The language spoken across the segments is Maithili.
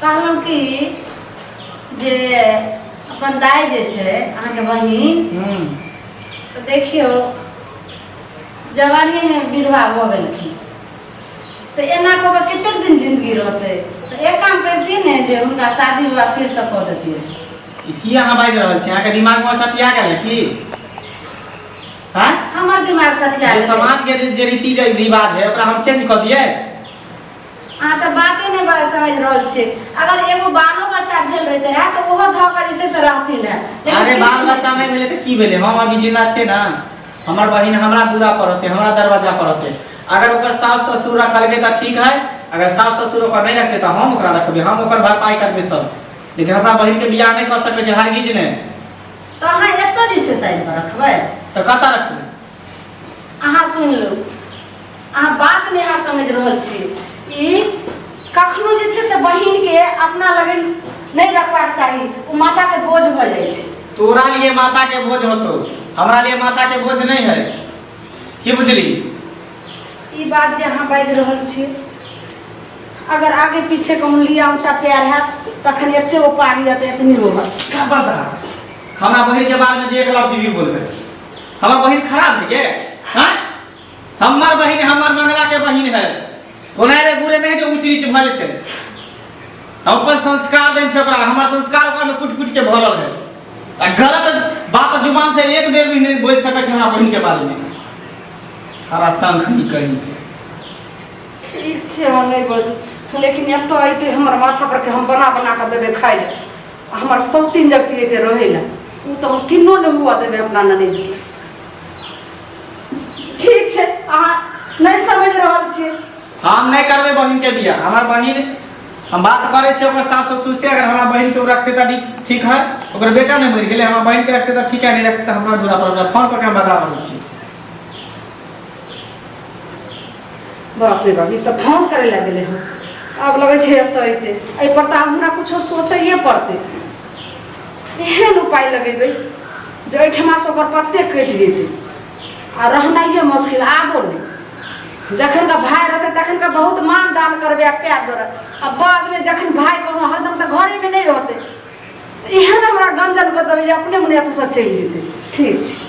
कहलहुँ कि जे अपन दाइ जे छै अहाँके बहिन हूँ तऽ देखियौ जवानीमे विधवा भऽ गेलखिन तऽ एना कऽ कऽ कतेक दिन जिन्दगी रहतै तऽ एक काम करतियै ने जे हुनका शादी विवाह फेरसँ कऽ देतियै ई की अहाँ बाजि रहल छी अहाँके दिमागमे सठिया गेल है की हाँ हमर दिमाग सठिया जे गेलै। समाजके जे जे रीति जे रिवाज है ओकरा हम चेंज कऽ दियै अहाँ तऽ बाते नहि बा- समझ रहल छियै अगर एगो बालो बच्चा भेल रहिते रहए तऽ ओहो धऽ कऽ जे छै से रास्ती रहए लेकिन अरे किछु बाल नहि। बच्चा नहि भेलै तऽ की भेलै हम अभी जिंदा छै ना हमर बहिन हमरा दूरा पर रहते हमरा दरवाजा पर रहते अगर ओकर सास ससुर रखलकै तऽ ठीक है अगर सास ससुर ओकर नहीं रखते तऽ हम ओकरा रखबै हम ओकर भरपाई करबै सब लेकिन हमरा बहिन के बियाह नहि कऽ सकै छै हरगिज नहि तऽ अहाँ एतऽ जे छै से आबि कऽ रखबै तऽ कतऽ रखबै अहाँ सुन लो अहाँ बात नहीं अहाँ समझ रहा छी कखनो जे छै से बहिन के अपना लगे नहीं रखवा चाहिए वो माता के बोझ भ जाए तोरा लिए माता के बोझ होतो हमरा लिए माता के बोझ नहीं है की बुझली ई बात जे अहाँ बाज रहा छी अगर आगे पीछे कहूँ लिया ऊंचा प्यार है तखन एते उपाय एतनी होगा खबरदार हमरा बहिन के बारे में जे एक लफ्ज भी बोलबे हमर बहिन खराब है के हाँ हमर बहिन हमर मंगला के बहिन है ओना रे गुरे नहीं के ऊंच नीच भऽ जेतै हम अपन संस्कार देन छै ओकरा हमर संस्कार ओकरा में कुट कुट के भरल है आ गलत बात जुबान से एक बेर भी नहीं बोल सकै छै हमरा बहिन के बारे में हरा शंख ही कहीं के ठीक छै हम नहि बजू लेकिन एतऽ अयतै हमर माथा पर के हम बना बना कऽ देबै खाइ लए आ हमार सत्ती जगती लेते रहेला उ तो हम किन्नो ने हुआ देबे अपना ननद के ठीक छै अहाँ नहि समझ रहल छियै हम नहीं करबे बहन के बिया हमार बहन हम बात करे छे ओकर सास ससुर से अगर हमार बहन के उ रखते त ठीक- ठीक है ओकर बेटा नहीं मर गेले हमार बहन के रखते त ठीक है नहीं रखते त हमरा दूरा पर हमरा फोन पर के हम बता रहल छी बाप रे बाप ई तऽ फोन करै लए गेलै हँ आब लगै छै एतऽ अयतै एहिपर तऽ आब हमरा किछो सोचैए पड़तै एहन उपाय लगेबै जे एहिठमासँ ओकर पत्ते कटि जेतै आ रहनाइए मुश्किल आबो नहि जखन का भाय रहतै तखन का बहुत मान दान करबै आ प्यार दौड़ै आ बादमे जखन भाय कोनो हरदम तऽ घरेमे नहि रहतै तऽ एहन हमरा गंजन कऽ देबै जे अपने मने एतऽसँ चलि जेतै ठीक छै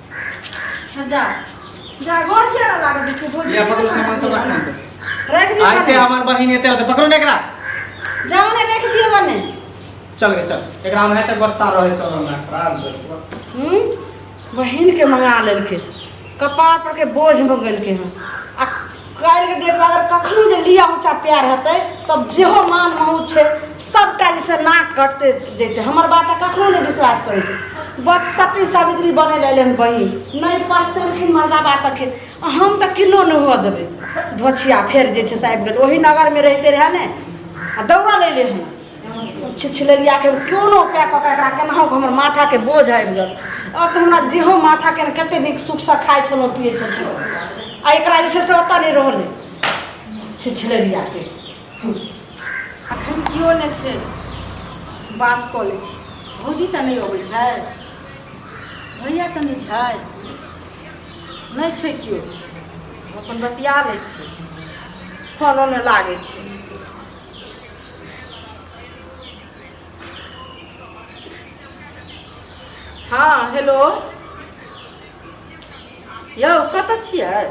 जा जा गोड़ किया ना लागत देखो गोड़ या पकड़ो सामान सब रखना है। रख दियो ऐसे बने। हमार बहिन एते रहते पकड़ो ना एकरा जाओ ने रख दियो बने चल गए चल एकरा में है तक बस्ता रहे चल ना खराब दे हम्म बहन के मंगा लेलके कपार पर के बोझ हो गेलके हन आ काल्हि के डेट में अगर कखनो जे लिया ऊंचा प्यार हेतै तब जेहो मान महू छै सबटा जैसे नाक कटते जैते हमर बात कखनो नहि विश्वास करै छै बच सती सावित्री बने लए एलनि बहिन नहि पसलखिन मर्दा बात तखिन हम तऽ किलो नहि हुअ देबै धोछिया फेर जे छै से आबि गेल ओही नगरमे रहिते रहए ने आ दौड़ल अयलै हन छिछिलैया के कोनो पै कऽ एकरा केनाहु हमर माथा के बोझ आबि गेल अब तऽ हमरा जेहो माथा के कते नीक सुख से खाइ छलहुँ पियै छलहुँ आ एकरा जे छै से ओतऽ नहि रहलै छिछिलैया के अखन केओ नहि छै बात कऽ लै छी भौजी तऽ नहि अबै छै भैया तऽ नहि छै नहि छै केओ अपन बतिया लै छी फोनो नहि लागै छै हँ हेलो यौ कतऽ छियै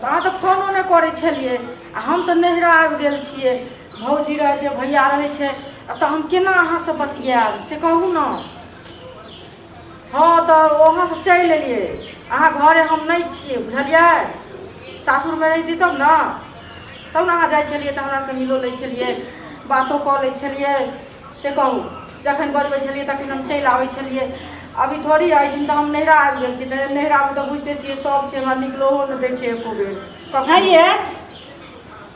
अहाँ तऽ फोनो नहि करै छलियै आ हम तऽ नैहरा आबि गेल छियै भौजी रहै छै भैया रहै छै तऽ हम केना अहाँसँ बतियाएब से कहू ने हँ तऽ वहाँसँ चलि एलियै अहाँ घरे हम नहि छियै बुझलियै सासुरमे रहिती तब ने तब ने अहाँ जाइ छलियै तऽ हमरासँ मिलो लै छलियै बातो कऽ लै छलियै से कहू जखन बजबै छलियै तखन हम चलि आबै छलियै अभी थोड़ी अछि तऽ हम नैहरा आबि गेल छी तऽ नैहरामे तऽ बुझिते छियै सभ छै हमरा निकलहो नहि दै छै एको बेर कखन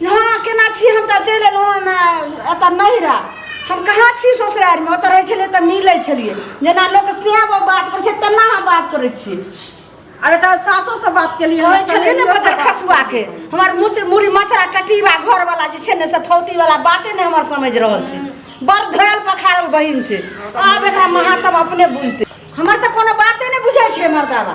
यहाँ केना छी हम तऽ चलि एलहुँ हन एतऽ नैहरा हम कहाँ छी ससुरारिमे ओतऽ रहै छलियै तऽ मिलै छलियै जेना लोक सएह बात करै छै तेना हम बात करै छी अरे तऽ सासो से बात के लिए होइ छलियै ने बजर खसुआ के हमर मुच मुड़ी मचरा टटीवा घर वाला जे छै ने से फौती वाला बाते ने हमर समझ रहल छै बड़ धोयल पखारल बहिन छै आब एकरा महातम अपने बुझते हमर तऽ कोनो बाते नहि बुझै छै मर्दावा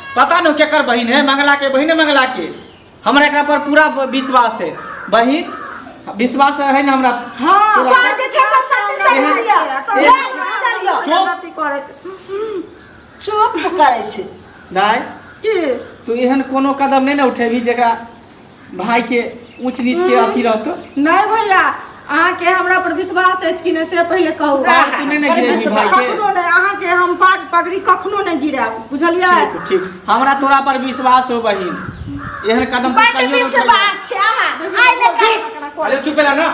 पता नहीं केकर बहन है मंगला के बहन है मंगला के हमरा एकरा पर पूरा विश्वास है बहन विश्वास है ना हमरा हाँ, तोरा तोहर जे छै सब सत्य सत्य एहन- लिअ। एहन- जय बुझलिअ। चुप। गलती करैत चुप करै छै दाय की तू एहन कोनो कदम नहीं ना उठेबी जेकरा भायके ऊँच नीचके अथी रहतौ नहीं भैया अहाँ के हमरा पर विश्वास अछि कि नहीं से पहले कहू पाग तू नहि ने अरे गिरेबही विश्वास- भायके कखनो नहीं अहाँ के हम पाग पगड़ी कखनो नहीं गिराब बुझलियै ठीक ठीक हमरा तोरा पर विश्वास हो बहिन एहन कदम तू बड कहियो नहि उठैहे। विश्वास छै अहाँ आइ ले काल्हि अरे चुप रह ना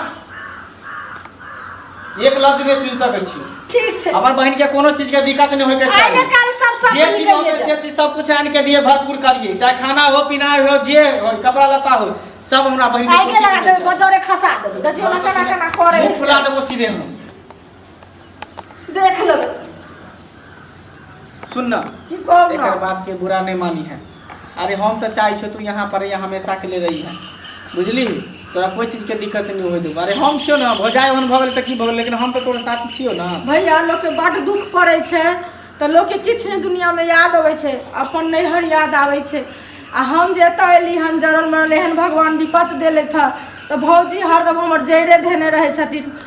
एक लफ्ज नहि सुनि सकै छी ठीक छै हमर बहन के कोनो चीज के दिक्कत नहि होय के आइ ने चाही काल्हि सब सब जे चीज निकल होवे जेतै। से चीज सब कुछ आनि के दिए भरपूर करिए चाहे खाना हो पीना हो जे हो कपड़ा लत्ता हो सब हमरा बहन आइ के लगा देबै बजरे खसा देबै देखियो ना केना केना करे मुंह फुला देबो सीधे हम देख लो सुन ना की कहब एकर ना बात के बुरा नहीं मानी है अरे हम तो चाहे छो तू यहाँ पर यहाँ हमेशा के लिए रही है बुझली तोरा कोई चीज के दिक्कत नहीं होई देबो अरे हम छियो ना भौजाई ओहन भऽ गेल तऽ की भऽ गेल लेकिन हम तऽ तोरा साथ छियो ना भैया लोग के बड दुख पड़े छै तऽ लोग के किछु नहि दुनिया में याद अबै छै अपन नैहर याद आबै छै आ हम जे एतऽ एली हन जरल मरल एहन भगवान विपत देले था तऽ भौजी हरदम हमर जैरे धेने रहै छथिन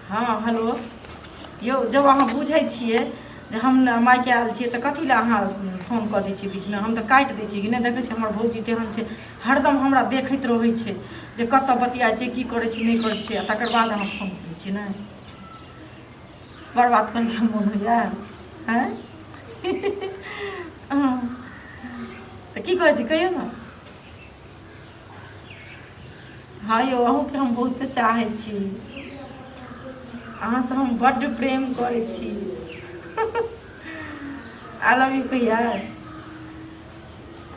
हँ हेलो यौ जब अहाँ बुझै छियै जे हम मायके आयल छियै तऽ कथी लए अहाँ फोन कऽ दै छियै बीचमे हम तऽ काटि दै छियै कि नहि देखै छियै हमर भौजी तेहन छै हरदम हमरा देखैत रहै छै जे कतऽ बतियाइ छै की करै छै नहि करै छै आ तकर बाद अहाँ फोन करै छियै ने बड़ बात करके मोन होइए आँय हँ। तऽ की कहै छी कहियौ ने हँ यौ अहूँके हम बहुते चाहै छी अहाँसँ हम बड्ड प्रेम करै छी आई लव यू भैया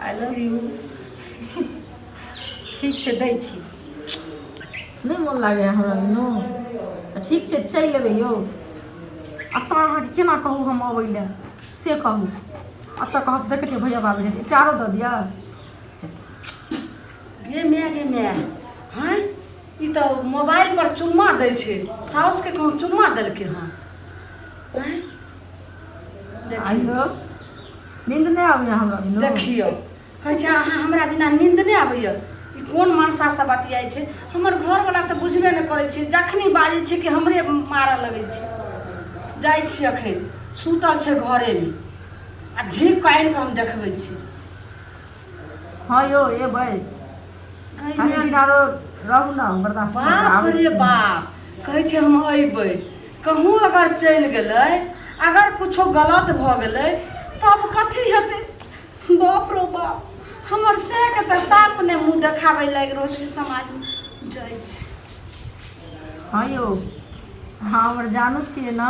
आई लव यू ठीक छै दै छी नहि मोन लागैए हमरा बिनो ठीक छै चलि लेबै यौ एतऽ अहाँके केना कहू हम अबै लए से कहू एतऽ कहब देखै छियै भैया बाबू एते आरो दऽ दिअ गे माय गे माय हँ ई तऽ मोबाइल पर चुम्मा दै छै साउस के कहूँ चुम्मा देलकै हँ हँ? आइयो नींद नहीं आवे हमरा बिनु देखियौ कहै छै अहाँ हमरा बिना नींद नहि आबैया ई कोन मनसासँ बतियाइ छै हमर घरवला तऽ बुझबे नहि करै छै जखनी बाजै छै कि हमरे मारऽ लगै छै जाइ छी अखन सुतल छै घरेमे आ झीक कऽ आनि कऽ हम देखबै छी हँ यौ एबै कनि दिन आरो रहू ने बर्दाश्त करू, बाप आबै रे छी। बाप कहै छै हम अयबै कहूँ अगर चलि गेलै अगर कुछो गलत भऽ गेलै तब कथी हेतै बाप रो बाप हमर सएहके तऽ साफ नहि मुँह देखाबै लागि रहल छै समाजमे जाइ छै हँ यौ अहाँ हमर जानू छियै ने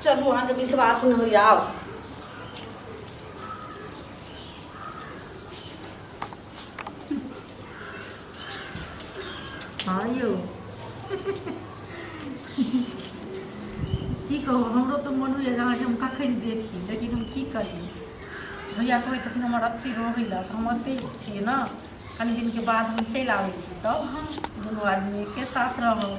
चलू अहाँके विश्वास नहि होइए आउ हँ यौ की कहू हमरो तऽ मोन होइए जे अहाँके हम कखन देखी लेकिन हम की करी भैया कहै छथिन हमर अथी रहै लए तऽ हम अथी छियै ने कनि दिनके बाद हम चलि आबै छी तब हम दुनू आदमी एके साथ रहब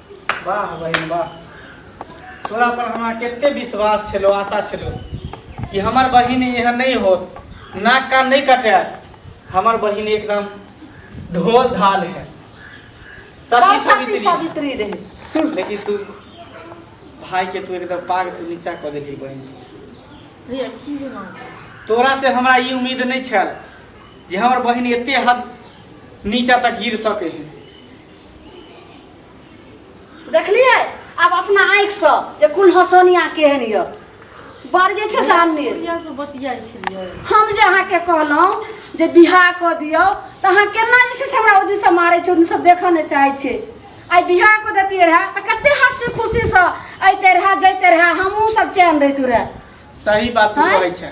वाह बहिन वाह तोरा पर हमरा कते विश्वास छलो आशा छलो कि हमर बहिन एहन नहीं होत नाक कान नहीं कटे हमर बहिन एकदम ढोल ढाल है सती सावित्री सावित्री रहे लेकिन तू भाई के तू एकदम पाग तू नीचा कर देली बहिन तोरा से हमरा ई उम्मीद नहीं छल जे हमर बहिन एते हद नीचा तक गिर सके है देखलियै आब अपना आँखिसँ जे कुल हसोनिया केहन यऽ बड़ जे छै सामने हम जे अहाँके कहलहुँ जे बिहार कऽ दियौ तऽ अहाँ केना जे छै से हमरा ओहि दिनसँ मारै छै ओहि दिनसँ देखऽ नहि चाहै छै आइ बिहार कऽ देतियै रहए तऽ कते हँसी खुशीसँ अयते रहए जैते रहए हमहूँ सब चैन रहितू रहए सही बात तू कहै छै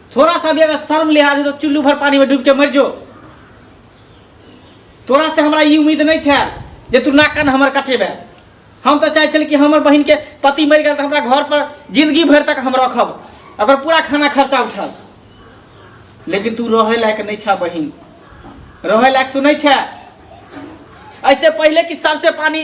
थोड़ा सा भी अगर शर्म लिहाज हो तो चुल्लू भर पानी में डूब के मर जो तोरा से हमरा ई उम्मीद नहीं है जे तू ना कन हमर कटेबे हम तो चाहे छल कि हमर बहन के पति मर गया तो हमरा घर पर जिंदगी भर तक हम रखब अगर पूरा खाना खर्चा उठल लेकिन तू रहे लायक नहीं छा बहन रहे लायक तू नहीं छा ऐसे पहले कि सर से पानी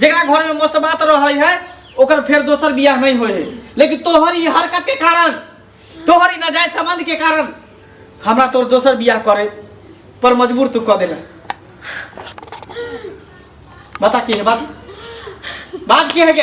जरा घर में मोसबात रहे है ओकर फिर दोसर बियाह नहीं होए है लेकिन तोहर ई हरकत के कारण तोहर ई नाजायज संबंध के कारण हमरा तोर दोसर बियाह करे पर मजबूर तू कर देला बता की है बात बात की है के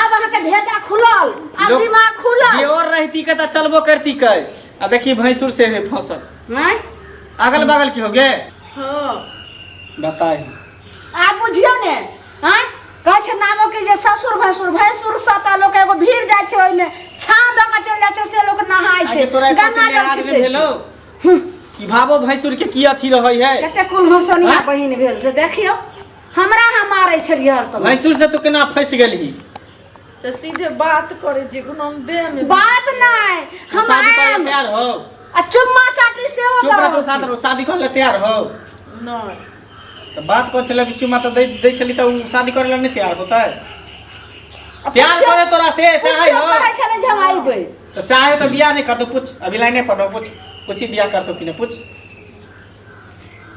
आब अहाँके भेजा खुलल आब लोक- दिमाग खुलल दियोर रहती के त चलबो करती के आ देखी भैंसुर से है फसल हैं? अगल बगल की हो गे हाँ बताई आब बुझियो ने हैं? कहै छै नामो के जे ससुर भैंसुर भैंसुर सता लोक एगो भीड़ जाइ छै ओहिमे छाँह दऽ कऽ चलि जाइ छै से लोक नहाय छै आगे तोरा एक गंगा पति जल लिहाज छिटै में छै। भेलो कि भावो भैंसुर के की अथी रहै है कते कुल हंसनिया हाँ? बहिन भेल से देखियो हमरा अहाँ मारै छलियै हर समय भैंसुर से तू केना फंस गेलही तो सीधे बात करे जे कोनो हम देह में बात नहीं हम शादी करे आएम ला तैयार हो आ चुम्मा चाटी से हो चुप रह तू साथ रहो शादी करे ला तैयार हो नहीं तो बात कर चला कि चुमा तो दे दे चली तो उ शादी करे ला नहीं तैयार होता है प्यार करे तोरा से चाहे हो कहै छले जे हम आइबै तो चाहे तो बियाह नहीं करतो पूछ अभी लाइने पर रहो पूछ पूछी बियाह करतो कि नहीं पूछ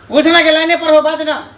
पूछ ना के लाइने पर हो बात ना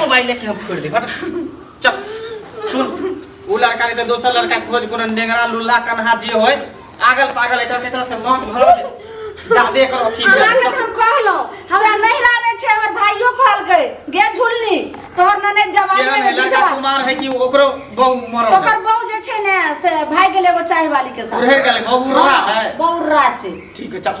मोबाइल लेके हम फोड़ दे हट चल सुन उ लड़का के तो दोसर लड़का खोज कोनो नेंगरा लुल्ला कन्हा जे होय आगल पागल एकर केकरा से मन भर दे जादे करो की हमरा भेल। के हम कहलो हमरा नहीं रहने छे हमर भाइयो कहल गए गे झुलनी तोहर नने जवान केहन है में लड़का बिधवा कुमार है कि ओकरो बहु मरल ओकर है। बहू जे छे ने से भाग गेल एगो चाय वाली के साथ उड़े गेल बहु रहा है बहु रात से ठीक है चल